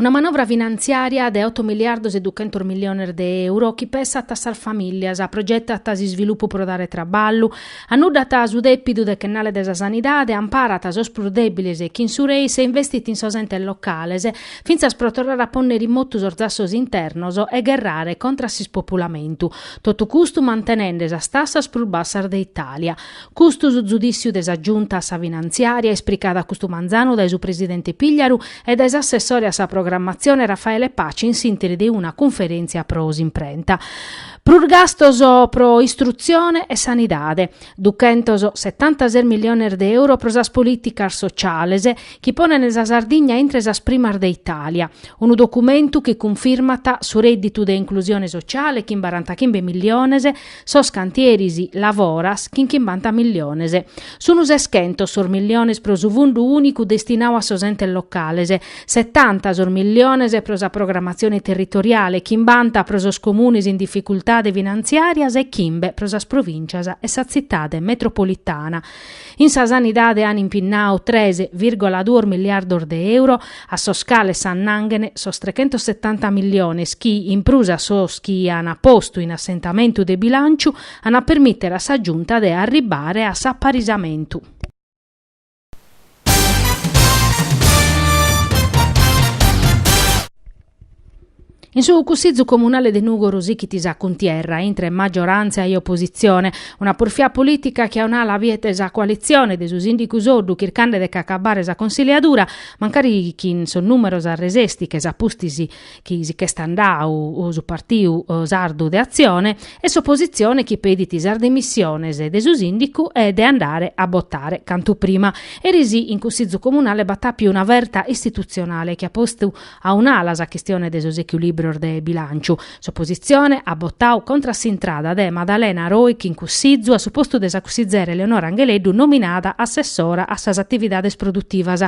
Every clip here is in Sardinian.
Una manovra finantziària de oto miliardos e duchentos miliones de euro chi pessat a sas famìllias, progetat s'isvilupu pro dare traballu, annuddat su dèpidu dechennale de sa sanidade, amparat sos prus dèbiles chin su Reis, investit in sos entes locales, fintzas pro torrare a pònnere in motu sos zassos internos e gherrare contra s'ispopulamentu. Totu custu mantenende sas tassas prus bassas de Itàlia. Custu su zudìssiu de sa Giunta a sa Finantziària, ispricau custu manzanu dae su presidente Pigliaru e dae s'assessore a sa programmatzione Raffaele Paci in s'ìntiri de una cunferèntzia pro s'imprenta. Prus gastos pro istrutzione e sanidade, duchentos setantases milliones de euro pro sas polìticas sociales, chi ponent sa Sardigna intre sas primas de Itàlia. Unu documentu chi cunfirmat su rèdditu de inclusione sociale, chimbarantachimbe milliones, Sos cantieris Lavoras, chin chimbanta milliones. Sun seschentos sos milliones pro su fundu ùnicu destinau a sos entes locales, setanta sos milliones pro sa programatzione territoriale, chimbanta pro sos comunes in dificultade finantziàrias e chimbe pro sas provìncias e sa tzitade metropolitana. In sa sanidade an impinnau tres virgola duos miliardos de euro, a sos cales s'annanghen sos trechentosetanta milliones chi, in prus a sos chi an postu in assentamentu de bilànciu, an a permìtere a sa Giunta de arribbare a s'aparisamentu. In su Cussizu Comunale de Nùgoro sichit sa cuntierra intre maggioràntzia e opositzione. Una purfia polìtica chi a un'ala biet sa coalitzione de su sìndicu Soddu chircande de ch'acabbare sa consiliadura, mancari chin sos nùmeros a resessiches a pustis chi si ch'est andau su Partiu Sardu de Atzione e s'opositzione chi pedit sas demissiones de su sìndicu e de andare a botare cantu prima. Eris in Cussizu Comunale b'at àpiu una verta istitutzionale chi at postu A un'ala sa chistione de sos echilìbrios de bilànciu. S'opositzione at botau contra a s'intrada de Madalena Roig in Cussizu a su postu de sa cussizera Eleonora Angheleddu nominada assessora a sas atividades produtivas.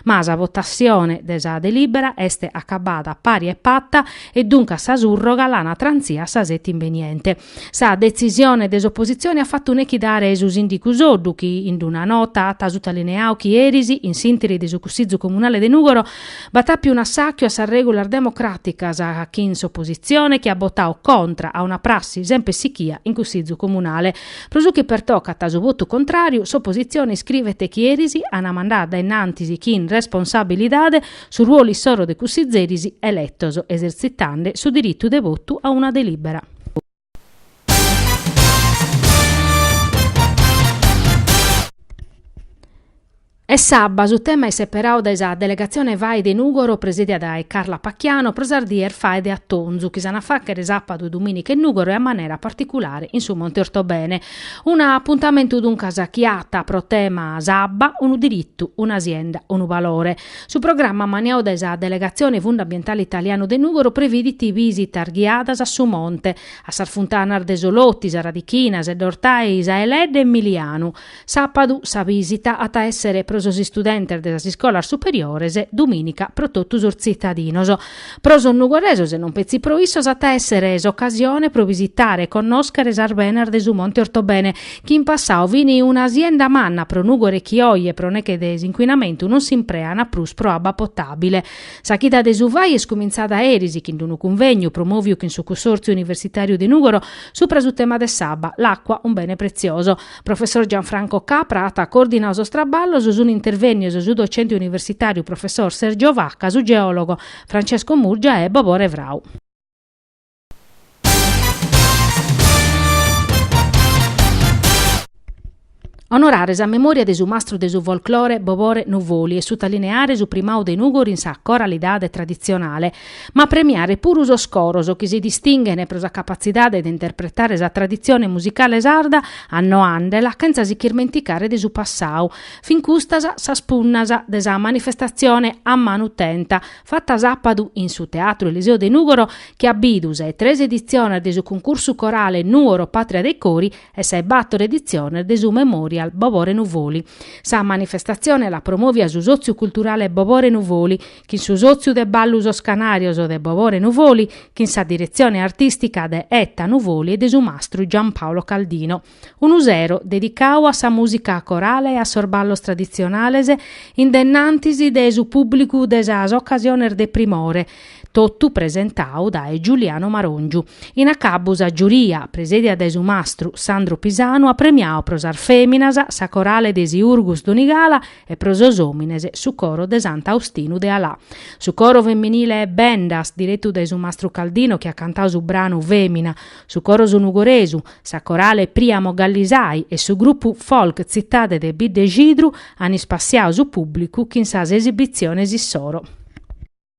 Ma sa votatzione de sa delìbera est acabada pari e pata e duncas sa surroga l'ana trantzia a sa seti imbeniente. Sa detzisione de s'opositzione at fatu nechidare su sìndicu Soddu chi, in una nota, at sutalineau chi eris, in s'ìntiri de su Cussizu Comunale de Nùgoro, b'at àpiu un'assàchiu a sas règulas democràticas chin s'opositzione chi at botau contra a una prassi semper sichia in Cussizu Comunale. Pro su chi pertocat su votu contràriu, s'opositzione iscrivet chi eris ana mandau dae innantis chin responsabilidade su ruolu issoro de cussizeris eletos, esertzitande su diritu de votu a una delìbera. E s'abba su tema est seperau dae sa delegatzione Fai de Nùgoro presèdia dae Carla Pacchiano pro sas dies Fai de Atonzu chi s'an a fàghere sàpadu e dumìnica in Nùgoro e a manera particulare in su Monte Ortobene. Un'apuntamentu duncas chi at pro tema s'abba, unu diritu, una sienda, unu valore. Su programma maniau dae sa Delegatzione Fundu Ambientale Italianu de Nùgoro previdit bisitas ghiadas a su monte, a sas funtanas de Soloti, Sa Radichina, Sedd'Ortai, Sa 'e Ledda e Milianu. Sàpadu sa bìsita at a èssere pro sos istudentes de sas iscolas superiores, dumìnica pro totu sos tzitadinos. Pro sos nugoresos e non petzi pro issos at a èssere s'ocasione pro bisitare e connòschere sas benas de su Monte Ortobene, chi in passadu fini una asienda manna pro Nùgoro chi oje pro neghe de s'incuinamentu non s'impreana prus pro abba potàbile. Sa chida de su fai est cumintzada aeris chin d'unu cunvegnu promòviu chin su Cussòrtziu Universitàriu de Nùgoro subra su tema de s'abba, L'acqua, un bene prezioso. Professor Gianfranco Capra at coordinau sos traballos, sun intervennios su docente universitàriu professor Sergio Vacca, su geòlogo Francesco Murgia e Bobore Frau. Onorare sa memòria de su mastru de su folclore Bobore Nuvoli e sutalineare su primau de Nùgoro in sa coralidade traditzionale, ma premiare puru sos coros chi si distinghen pro sa capatzidade de interpretare sa traditzione musicale sarda annoandela chentza si ch'irmenticare de su passadu. Fin custas sas punnas de sa manifestatzione a manu tenta fata sàpadu in su Teatru Eliseo de Nùgoro chi at bidu sas tres editziones de su cuncursu corale Nùgoro Pàtria dei Cori e sas bàtoro editziones de su Memorial Bobore Nuvoli. Sa manifestatzione l'at promòvia su Sòtziu Culturale Bobore Nuvoli, chin su sòtziu de Ballu Sos Canàrios de Bobore Nuvoli, chin sa diretzione artìstica de Etta Nuvoli e de su mastru Giampaolo Caldino. Unu sero dedicadu a sa mùsica corale e a sos ballos traditzionales in dennantis de su pùblicu de sas ocasiones de primore, totu presentadu dae Giuliano Maròngiu. In acabbu sa giuria, presèdia dae su mastru Sandro Pisanu at premiadu pro sas fèminas sa Corale de Siurgus Donigala, E pro sos òmines su coro de Sant'Austinu de Alà. Su coro feminile Bendas, diretu dae su mastru Caldino chi at cantadu su branu Fèmina, su coro Su Nugoresu, sa corale Priamo Gallisai e su grupu folk Tzitade de Biddexidru an ispassiadu su pùblicu chin sas esibitziones issoro.